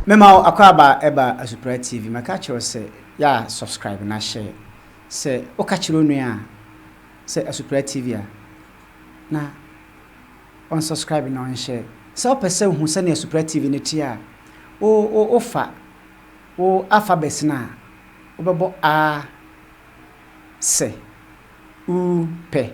Mema wo akwaaba ɛba Asupra TV mɛka kyerɛ wo sɛ yɛ a subscribe na share sɛ woka kyerɛ onua a sɛ Asupra TV a na ɔn subscribe na ɔn share sɛ wopɛ sɛ wohu sɛnea Asupra TV no te a wo wo wofa wo alphabets no a wobɛbɔ a sɛ u pɛ.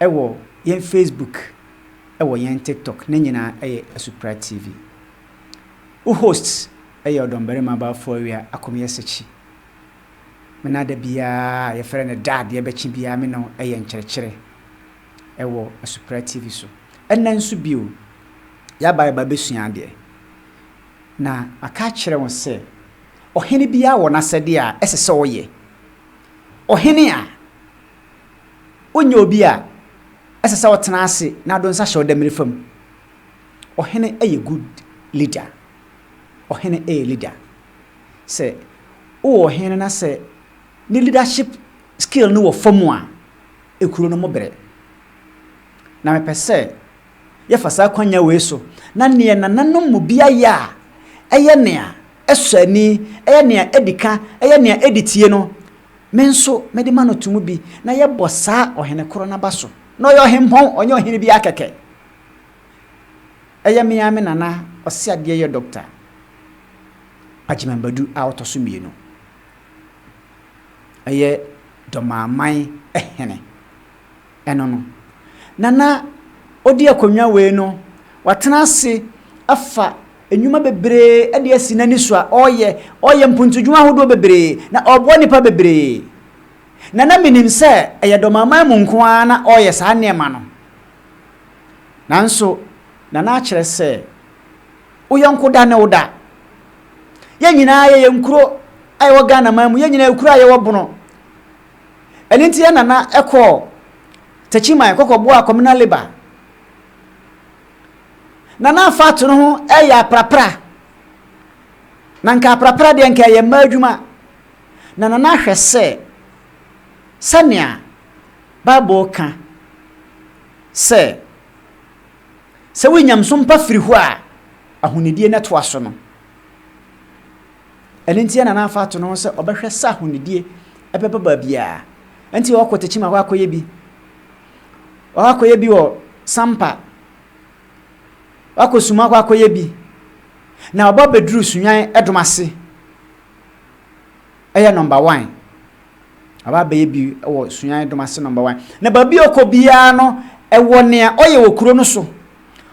Ɛwɔ yɛn Facebook ɛwɔ yɛn TikTok ne nyinaa ɛyɛ Asupra TV. Wo host ɛyɛ ɔdɔmbarima abaafoɔ awia akomeɛ sekyi. Me na da biaa a yɛfrɛ no da adeɛ bɛkye biaa me ne wo ɛyɛ nkyerɛkyerɛ ɛwɔ Asupra TV so. Ɛnɛ nso bio yaba yɛba bɛsua adeɛ na maka akyerɛ wo sɛ ɔhene biaa wɔ n'asɛdeɛ a ɛsɛ sɛ ɔyɛ. Ɔhene a Wonyɛ obi a ɛsɛ sɛ ɔtena ase na ado nsa hyɛ ɔdamire fam. Ɔhene yɛ good leader. Ɔhene yɛ leader. Sɛ wowɔ ɔhene no na sɛ ne leadership skill no wɔ fam a, ekuro no mo bere. Na mepɛ sɛ yɛfa saa akwanya wei so na neɛ nananom mu bi ayɛ a ɛyɛ nea ɛsɔ ani, ɛyɛ nea ɛdi ka, ɛyɛ nea ɛdi tie no, Me nso mede ma no to mu bi, na yɛbɔ saa ɔhene koro no aba so, na ɔyɛ ɔhempɔn, ɔnyɛ ɔhene biara kɛkɛ. Ɛyɛ me ara me nana ɔseadeɛyɛ Dɔkta Agyeman Badu a ɔtɔ so mmienu. Ɛyɛ Dɔmaaman hene. ɛno no. Na na odi akonnwa wei no, watena ase afa nnwuma bebree de asi n'ani so a ɔreyɛ. Ɔreyɛ mpontudwuma ahodoɔ bebree, na ɔreboa nnipa bebree. Na na menim sɛ ɛyɛ Dɔmaman mu nko ara na ɔreyɛ saa nneɛma no. Nanso, na na akyerɛ sɛ wo yɔnko da ne wo da. Yɛn nyinaa yɛyɛ nkuro a yɛwɔ Ghanaman mu, yɛn nyinaa yɛ kuro a yɛwɔ Bono. Ɛno nti na na ɛkɔ Techiman kɔkɔboaa Communal Labour. Na na Fatu no ho yɛ aprapra. Na nka aprapra deɛ nka ɛyɛ mmaa adwuma. Na Nana ahwɛ sɛ sɛnea Bible ka sɛ sɛ wonya nso mpa firi hɔ a ahonidie no toa so no, Ɛno nti na na afa ato ne ho sɛ ɔbɛhwɛ sɛ ahonidie bɛba baabiara. Ɛnti ɔkɔ Techiman hɔ akɔyɛ bi. Ɔkɔ akɔyɛ bi wɔ Sampa. Ɔkɔ Suma hɔ akɔyɛ bi. Na ɔba bɛduru Sunyan ɛdom ase. Ɛyɛ nɔmba wan. Ɔba abɛyɛ bi wɔ Sunyan ɛdom ase nɔmba wan. Na baabi a ɔkɔ biara no, ɛwɔ nea ɔyɛ wɔ kuro no so.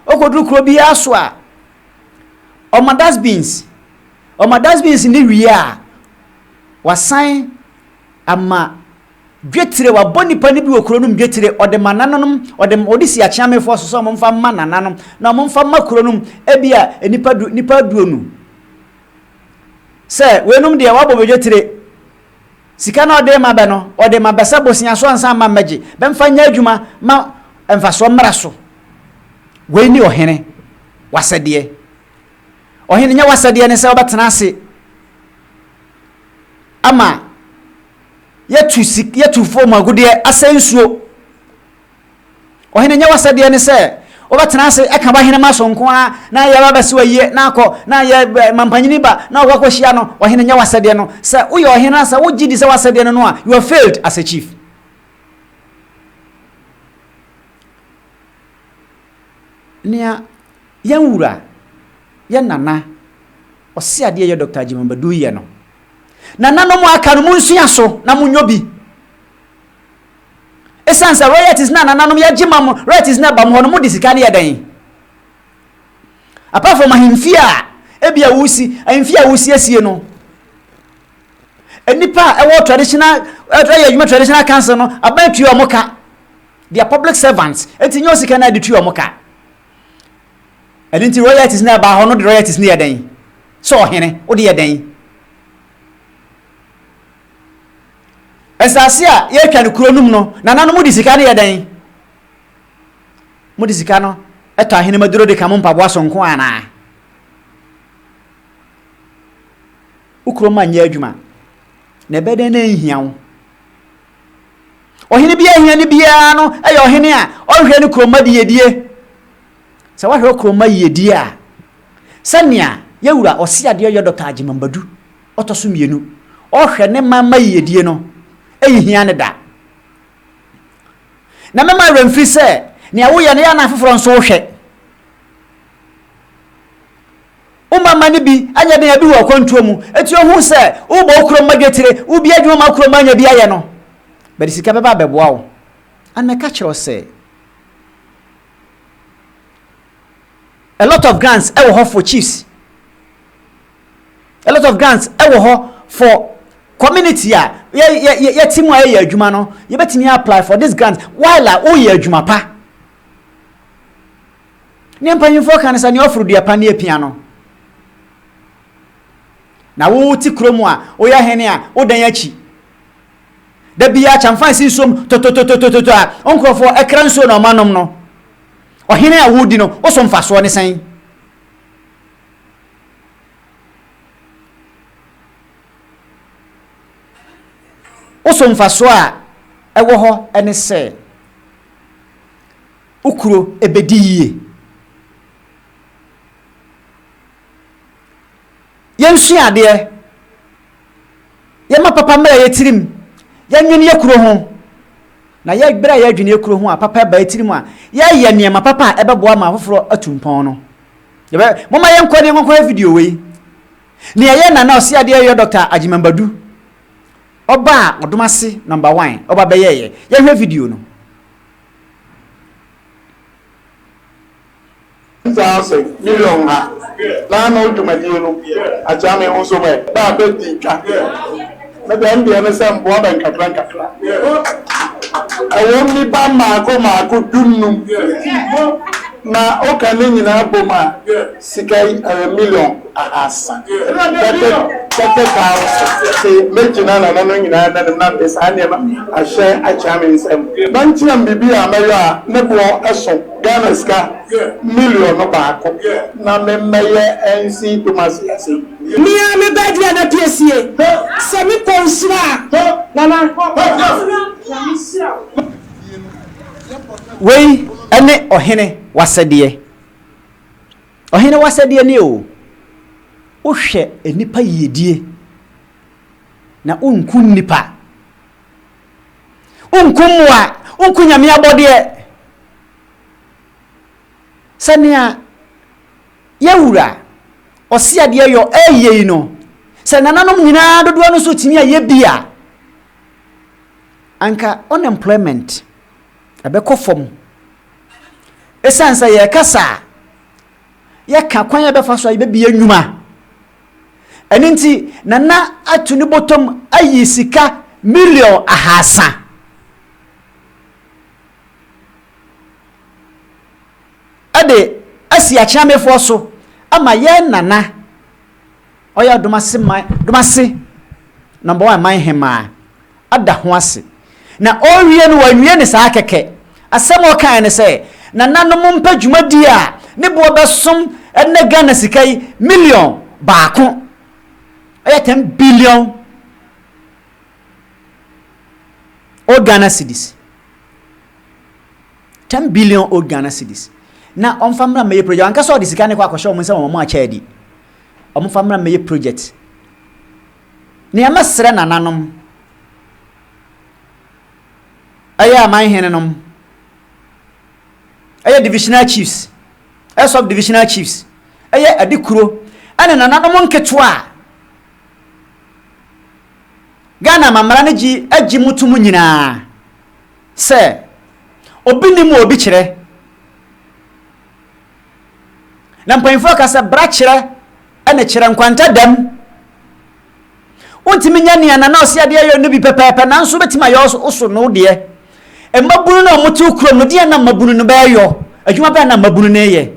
Ɔkɔduru kuro biara so a, Ɔma dustbins. Ɔma dustbins no wie a, wasan ama dwetire, wabɔ nnipa no bi wɔ kuro no mu dwetire, ɔde ma nananom, ɔde ɔde si akyeamefoɔ so sɛ wɔmfa mma nananom, na wɔmfa mma kuro no mu, ebi a nnipa du, nnipa aduonu. Sɛ weinom deɛ wɔabɔ bɛ dwetire. Sika no a ɔde rema bɛ no, ɔde ma bɛ sɛ bosea so ansa mma mmɛgye, bɛ mfa nyɛ adwuma ma mfasoɔ mmra so. Wei ne ɔhene w'asɛdeɛ. Ɔhene nyɛ w'asɛdeɛ ne sɛ wobɛtena ase ama yɛatu sik, yɛatu fam agudeɛ, asɛe nsuo, Ɔhene, ɛnyɛ w'asɛdeɛ ne sɛ wobɛtena ase ɛka w'ahenemma so nko ara na yɛaba abɛsi wo ayie na akɔ na yɛ mampanyini ba na ɔkɔ akɔhyia no. Ɔhene, ɛnyɛ w'asɛdeɛ no. Sɛ woyɛ ɔhene na sɛ wogye di sɛ w'asɛdeɛ ne no a, you have failed as a chief. Nea yɛn wura, yɛn nana, ɔseadeɛ yɛ Doctor Agyemang Badu yɛ no, nananom a aka no monsua so na monyɔ bi. Esiane sɛ royalties na nananom yɛ gye ma mo, royalties na ɛba mo hɔ no, mode sika no yɛ dɛn? Apart from ahemfie a ebia wosi, ahemfie a wosiesie no, nnipa a ɛwɔ traditional, ɛyɛ adwuma traditional council no, aban tua wɔn ka. They are public servants. Enti nyɛ osika na de tua wɔn ka. Ɛno nti royalties na ɛba hɔ no de royalties no yɛ dɛn? Sɛ ɔhene, wode yɛ dɛn? Nsase a yɛatwa no kuro no mu no, nananom de sika no yɛ dɛn? Mode sika no tɔ ahenemma duro de ka mo mpaboa so nko anaa? Wo kuro ma nyɛ adwuma, na ɛbɛ dɛn na ɛnhia wo? Ɔhene bi ahia ne biara no yɛ ɔhene a ɔnhwɛ ne kuromma de yɛdie. Sɛ woahwɛ wo kɔn mu ma yiyedie a, sɛnea yɛ wura ɔseadeɛ yɔ Dɔkta Agyemang Badu, ɔtɔ so mmienu, ɔhwɛ ne man ma yiyedie no, ɛnhia no da. Na mɛma awerɛ mfiri sɛ nea woyɛ no yɛ ana afoforɔ nso wohwɛ. Wo ma mma no bi anyɛ den abi wɔ akwantuo mu, eti ohun sɛ wobɔ wo kurom ma dwetire, wobie adwuma ma wo kurom ma anya bi ayɛ no, bɛde sika bɛba abɛboa wo. And mɛka kyerɛ wo sɛ. A lot of grants ɛwɔ hɔ for chiefs. A lot of grants ɛwɔ hɔ for community a yɛ yɛ yɛ ti mu a yɛyɛ adwuma no yɛbɛtumi apply for this grant while a woyɛ adwuma pa. Ne mpanyinfoɔ kan sɛ nea ɔforo dua pa ne apia no. Na wo ti kurom a woyɛ hene a wodan akyi. Da biara Kyamfansi nsuom tototototototɔ a wo nkurɔfoɔ kra nsuo na wɔanom no, ɔhene a woredi no, wo so mfasoɔ ne sɛn? Wo so mfasoɔ a ɛwɔ hɔ ne sɛ wo kuro bɛdi yie. Yɛnsua adeɛ, yɛma papa mmra yɛ tirim, yɛnwene yɛ kuro ho, na yɛ berɛ a yɛredwene yɛ kuro ho a papa ɛba yɛ tirim a, yɛyɛ nneɛma papa a ɛbɛboa ma afoforɔ atu mpɔn no. Yɛbɛ, moma yɛnkɔ ne nkɔnkɔhwɛ video wei. Nea ɛyɛ Nana Ɔseadeɛ yɔ Dɔkta Agyemang Badu, ɔba a ɔdom ase nɔmba wan, ɔba bɛyɛɛyɛ. Yɛnhwɛ video no. Saa ɔsɛ million ha na ano dwumadie no akyea me ho so mɛ ba a bɛ di twa me dɛm deɛ ne sɛ mboa bɛ nkakra nkakra ɛwɔ mu nipa maako maako du nnum na wo ka ne nyinaa bom a sika yi ɛyɛ million. ahaasa pɛpɛpɛpɛ paa wɔ so. Se megyina nana no nyinaa nanim na mede saa nneɛma ahyɛ akyea me nsam. Mankyerɛ me biribi a mɛyɔ a ne boɔ so Ghana sika miliɔno baako na me mmɛyɛ nsi Kumasi ase yi. Me ara me baa dua no apiesie. Sɛ me kɔ nhyira a, nana nhyira na me hyira wo. Wei ne ɔhene w'asɛdeɛ. Ɔhene w'asɛdeɛ nie o. Wohwɛ nnipa yiedie na wonku nnipa. Wonku mmoa, wonku Nyame abɔdeɛ. Sɛnea Yawura Ɔseadeɛ Yɔ ɛɛyɛ yi no, sɛ nananom nyinaa dodoɔ no nso tumi ayɛ bi a, anka unemployment. ɛbɛkɔ fam. Esiane sɛ yɛrekasa a, yɛka kwan a yɛbɛfa so a yɛbɛbue nnwuma. Ɛno nti, Nana atu ne bɔtɔm ayi sika million ahaasa. Ɛde asi Akyeamefoɔ so ama yɛn Nana ɔya Domase man, Domase number one man hemaa ada ho ase. Na ɔrewie no wawie ne saa kɛkɛ. Asɛm a ɔkaeɛ ne sɛ, nananom mpɛ dwumadie a ne boɔ bɛsom ɛnnɛ Ghana sika yi million baako. Ɛyɛ ten billion old Ghana cedis. Ten billion old Ghana cedis. Na ɔmfa mmra mmɛyɛ project. Ankasa ɔde sika no kɔ akɔhyɛ wɔn nsam wɔn akyɛ adi. Wɔmfa mmra mmɛyɛ project. Nea mɛsrɛ nananom, ɛyɛ amanhenenom, ɛyɛ divisional chiefs, ɛyɛ sub-divisional chiefs, ɛyɛ adikuro, ɛne nananom nketewa a Ghana amammara no gye agye mu tom nyinaa sɛ obi nim a obi kyerɛ. Na mpanyimfoɔ ka sɛ bra kyerɛ ɛna kyerɛ nkwanta dɛm. Wontumi nyɛ nea nana ɔsi adeɛ yɛ no bi pɛpɛɛpɛ nanso wobɛtumi ayɛ oso no deɛ. Mmabunu no a wɔn te kurom no deɛ na mmabunu no bɛɛyɔ adwuma bɛɛ na mmabunu no yɛ.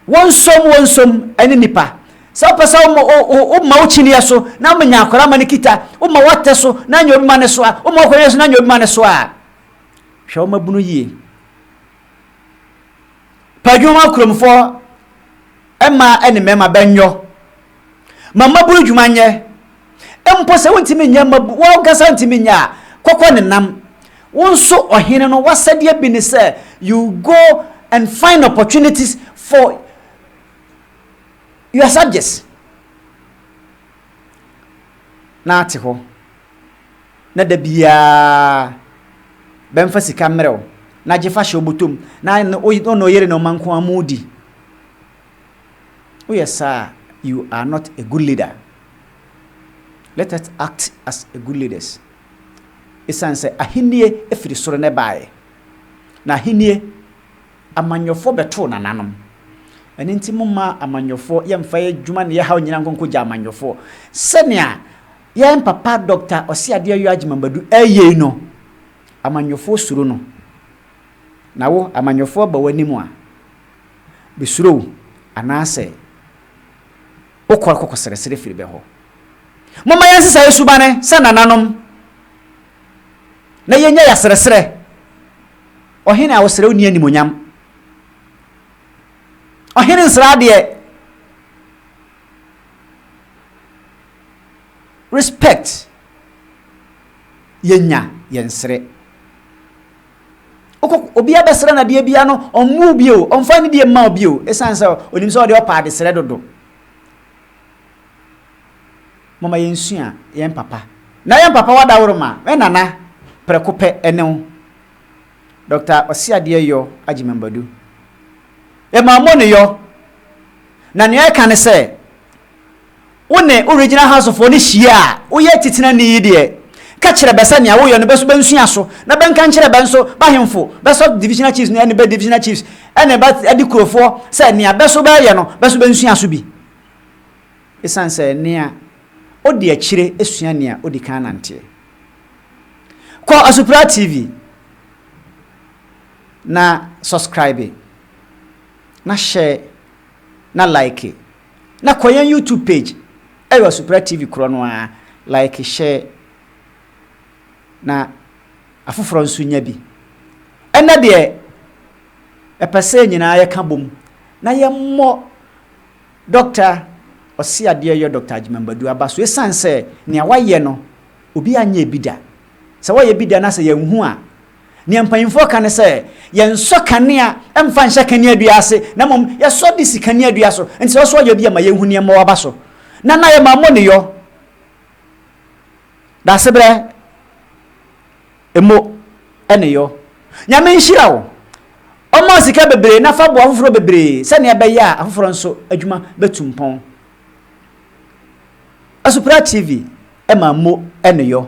Wɔnsom wɔnsom ne nnipa. Sɛ wopɛ sɛ woma wo, wo, woma wo kyiniiɛ so na ama nya akwadaa ma no kita, woma w'atɛ so na anya obi ma no soa, woma w'akwadaa so na anya obi ma no soa a, hwɛ wo mmabunu yie. Pɛ adwuma ma kuromfoɔ mmaa ne mmarima bɛnyɔ. Ma mmabun adwuma nyɛ. Mpo sɛ wontumi nyɛ mmabun, wo ankasa ntumi nyɛ a, kɔkɔ ne nam. Wo nso, ɔhene no, w'asɛdeɛ bi ne sɛ you go and find opportunities for your subjects. Na ate hɔ, na da biara bɛmfa sika mmerɛ wo, na gye fa hyɛ wo bɔtɔ mu, na wo ne wo yere na wɔn nko ara wɔredi. Woyɛ saa a, you are not a good leader. Let us act as a good leaders. Esiane sɛ ahennie firi soro na ɛbaeɛ, na ahennie amanyɔfoɔ bɛtoo nananom. Ɛno nti momma amanyɔfoɔ yɛmfa yɛn adwuma ne yɛn haw nyinaa nkɔnkɔgya amanyɔfoɔ. Sɛnea yɛn papa Dɔkta Ɔseadeɛ Ayo Agyemang Badu ɛyɛ yi no, amanyɔfoɔ suro no. Na wo, amanyɔfoɔ ba w'anim a, besuro wo, anaasɛ wokɔ kɔkɔsrɛsrɛ firi bɛ hɔ. Momma yɛnsesa yɛ subane sɛ nananom, na yɛnyɛ yasrɛsrɛ Ɔhene a wɔsrɛ wo ni animuonyam. Ɔhene nsrɛ adeɛ. Respect yɛnya yɛnsrɛ. Wokɔ obi abɛsrɛ no adeɛ biara no, ɔmmu wo bio, ɔmfa ne deɛ mma wo bio, ɛsiane sɛ ɔnim sɛ ɔde ɔpɛ adesrɛ dodo. Mama yɛnsua yɛn papa. Na yɛn papa wadaworo ma, me nana, prɛko pɛ ɛne wo. Dɔkta Ɔseadeɛ Yɔ Agyemambadu. Yɛma ɔmo ne yɔ. Na nea ɛka ne sɛ, wo ne wo Regional Housefoɔ no hyia a, woyɛ atitenani yi deɛ, ka kyerɛ bɛ sɛ nea woyɛ no bɛ so bɛnsua so, na bɛnka nkyerɛ bɛ nso b'ahemfo, bɛ sub divisional chiefs no ne bɛ divisional chiefs ne bɛ adikurofoɔ sɛ nea bɛ so bɛyɛ no bɛ so bɛnsua so bi. Esiane sɛ nea odi akyire sua nea odi kan nanteɛ. Kɔ Asupra TV na subscribe, na share, na like. Na kɔ yɛn YouTube page ɛyɔ Supra TV korɔ no ara like share na afoforɔ nso nya bi. Ɛnnɛ deɛ mɛpɛ sɛ yɛn nyinaa yɛka bom na yɛmmɔ Doctor Ɔseadeɛyɔ Doctor Agyemang Badu aba so ɛsiane sɛ nea wayɛ no obiara nyɛɛ bi da. Sɛ wɔyɛ bi da na sɛ yɛnhu a Nea mpanyimfoɔ ka ne sɛ, Yɛnsɔ kanea mfa nhyɛ kaneadua ase, na mmom yɛsɔ de si kaneadua so. Enti sɛ wosɔ yɔ bi a, ɛma yɛhu nea ɛma waba so. Na na yɛma mo ne yɔ, daasebrɛ mo ne yɔ. Nyame nhyira wo. Ɔma sika bebree na fa boa afoforɔ bebree sɛnea ɛbɛyɛ a afoforɔ nso adwuma bɛtu mpɔn. Asupra TV ɛma mo ne yɔ.